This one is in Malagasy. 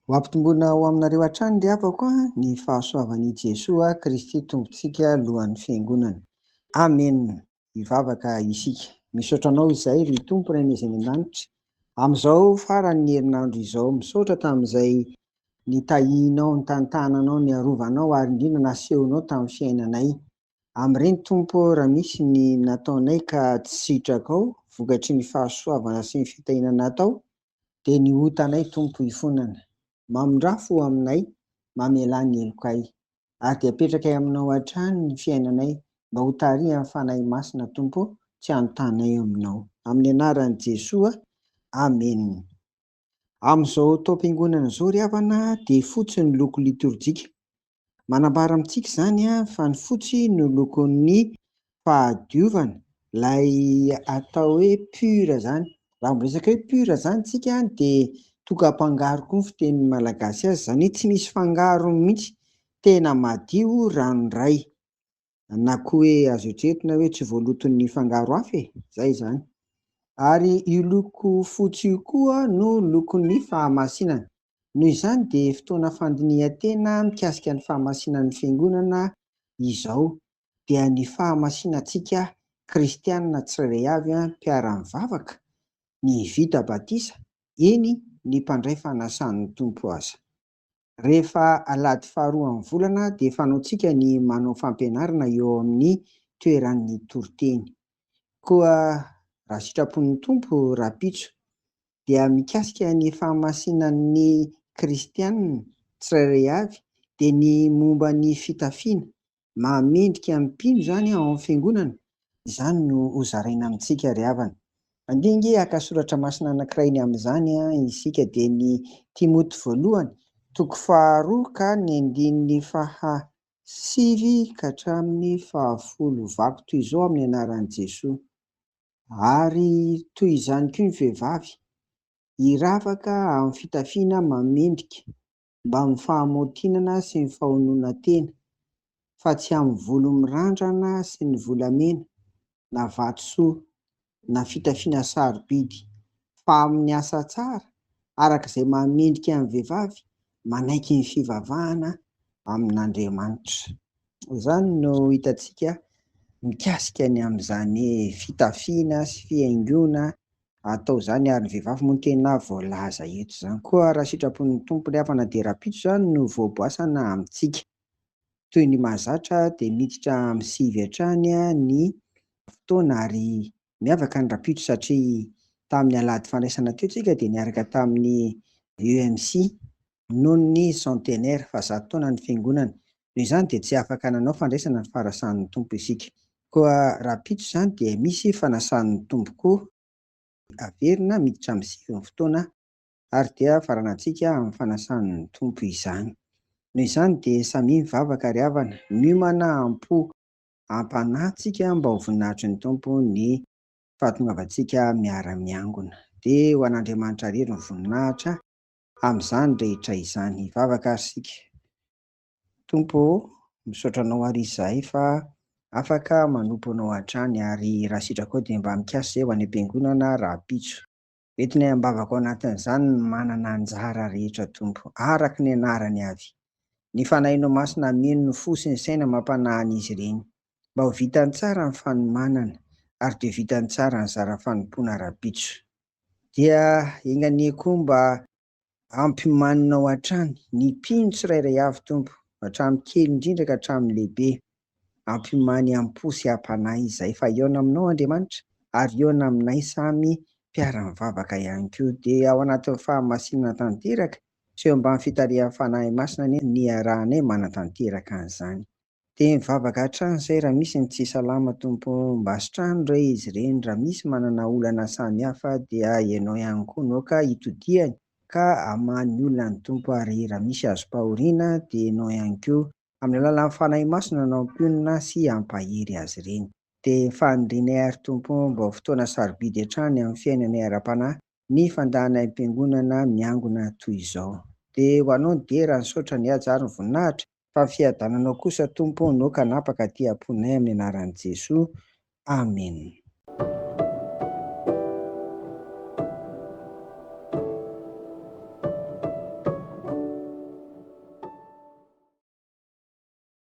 Ho ampitomboina ho aminareo hatrany ry havako ny fahasoavan'i Jesoa Kristy Tompontsika lohan'ny Fiangonana. Amen. Hivavaka isika. Misaotra Anao izay ry Tompo Renay izay any an-danitra, amin'izao faran'ny herinandro izao. Misaotra tamin'izay nitahianao, nitantananao, niarovanao ary indrindra nasehonao tamin'ny fiainanay. Amin-ireny Tompo ô raha misy ny nataonay ka tsy sitrakao vokatry ny fahasoavana sy ny fitahiana natao dia ny otanay Tompo ifonana. Mamindrafo ho aminay, mamelà ny helokay. Ary dia apetrakay aminao hatrany ny fiainanay mba ho tarihan'ny Fanahy Masina Tompo ô tsy anontanay aminao. Amin'ny anaran'i Jesoa, Amena. Amin'izao taom-piangonana izao ry havana dia fotsy ny loko litorjika. Manambara amintsika izany fa ny fotsy no lokon'ny fahadiovana, ilay atao hoe pur izany. Raha miresaka hoe pur izany isika dia tokam-pangaro koa ny fitenin'ny Malagasy azy, izany hoe tsy misy fangarony mihitsy, tena madio ranoray. na koa hoe azo eritreretina hoe tsy voaloton'ny fangaro hafa e, izay izany. Ary io loko fotsy io koa no lokon'ny fahamasinana. Noho izany dia fotoana fandinihan-tena mikasika ny fahamasinan'ny Fiangonana izao, dia ny fahamasinantsika kristiana tsirairay avy, mpiara-mivavaka, ny vita batisa, eny, ny mpandray fanasan'ny Tompo aza. Rehefa alahady faharoan'ny volana dia fanaontsika ny manao fampianarana eo amin'ny toeran'ny toriteny. Koa raha sitrapon'ny Tompo rahampitso dia mikasika ny fahamasinan'ny kristiana tsirairay avy dia ny momba ny fitafiana maha mendrika ny mpino zany ao am fiangonana, izany no ho zaraina amintsika ry havana. Andeha ange haka soratra masina anankiray ny amin'izany isika dia ny Timoty voalohany toko faha roa ka ny andininy faha sivy ka hatramin'ny faha folo Vaky toy izao amin'ny anaran'i Jesoa ary toy izany koa ny vehivavy hiravaka amin'ny fitafiana maha mendrika mba amin'ny fahamaotinana sy ny fahonoana tena, fa tsy amin'ny volo mirandrana sy ny volamena, na vatosoa, na fitafiana sarobidy, fa amin'ny asa tsara, araka izay mahamendrika ny vehivavy manaiky ny fivavahana amin'Andriamanitra. Izany no hitantsika mikasika ny amin'izany fitafiana sy fihaingoana Atao izany ary ny vehivavy moa no tena voalaza eto izany koa raha sitrapon'ny Tompo ilay havana dia rahampitso izany no voaboasana amintsika. Toy ny mahazatra dia miditra amin'ny sivy hatrany ny fotoana ary miavaka ny rahampitso satria tamin'ny alahady fandraisana teo tsika dia niaraka tamin'ny EMC noho ny centenaire, fahazato taona, ny Fiangonana. Noho izany dia tsy afaka nanao fandraisana ny farasan'ny Tompo isika. Koa rahampitso izany dia misy fanasan'ny Tompo koa averina miditra amin'ny sivin'ny fotoana ary dia faranantsika amin'ny fanasan'ny Tompo izany. Noho izany dia samia mivavaka ry havana, miomana am-po am-panahy tsika mba ho voninahitry ny Tompo ny fahatongavantsika miara-miangona. Dia ho an'Andriamanitra irery ny voninahitra. amin'izany rehetra izany. Hivavaka ary isika. Tompo ô, misaotra Anao àry izahay fa afaka manompo Anao hatrany, ary raha sitraka ao dia mba mikasa izay ho any am-piangonana rahampitso. Entinay am-bavaka ao anatin'izany ny manana anjara rehetra, Tompo, araka ny anarany avy. Ny Fanahinao Masina hameno ny fo sy ny saina amam-panahin'izy ireny, mba ho vitany tsara ny fanomanana, ary dia ho vitany tsara ny zara fanompoana rahampitso. Dia enga anie koa mba ampimaninao hatrany ny mpino tsirairay avy, Tompo, hatramin'ny kely indrindra ka hatramin'ny lehibe. Ampimany am-po sy am-panahy izahay fa hihaona aminao, Andriamanitra, ary hihaona aminay samy mpiara-mivavaka ihany koa. Dia ao anatin'ny fahamasinana tanteraka sy eo ambany fitarihan'ny Fanahy Masina anie no niarahanay manatanteraka an'izany. Dia mivavaka hatrany zay raha misy ny tsy salama Tompo o, mba sitrano re izy ireny, raha misy manana olana samy hafa dia Ianao ihany koa no ka itodihany ka amaha ny olonany Tompo ary raha misy azom-pahoriana dia Ianao ihany koa amin'ny alalan'ny Fanahy Masina no hampionona sy hampahery azy ireny. Dia ny fanirianay ary Tompo o, mba ho fotoana sarobidy hatrany amin'ny fiainanay ara-panahy ny fandahana im-piangonana miangona toy izao. Dia ho anao ny dera, nisaotra ny haja ary ny voninahitra, fa ny fiadananao kosa Tompo no kanapaka aty am-ponay amin'ny anaran'i Jesoa. Amena.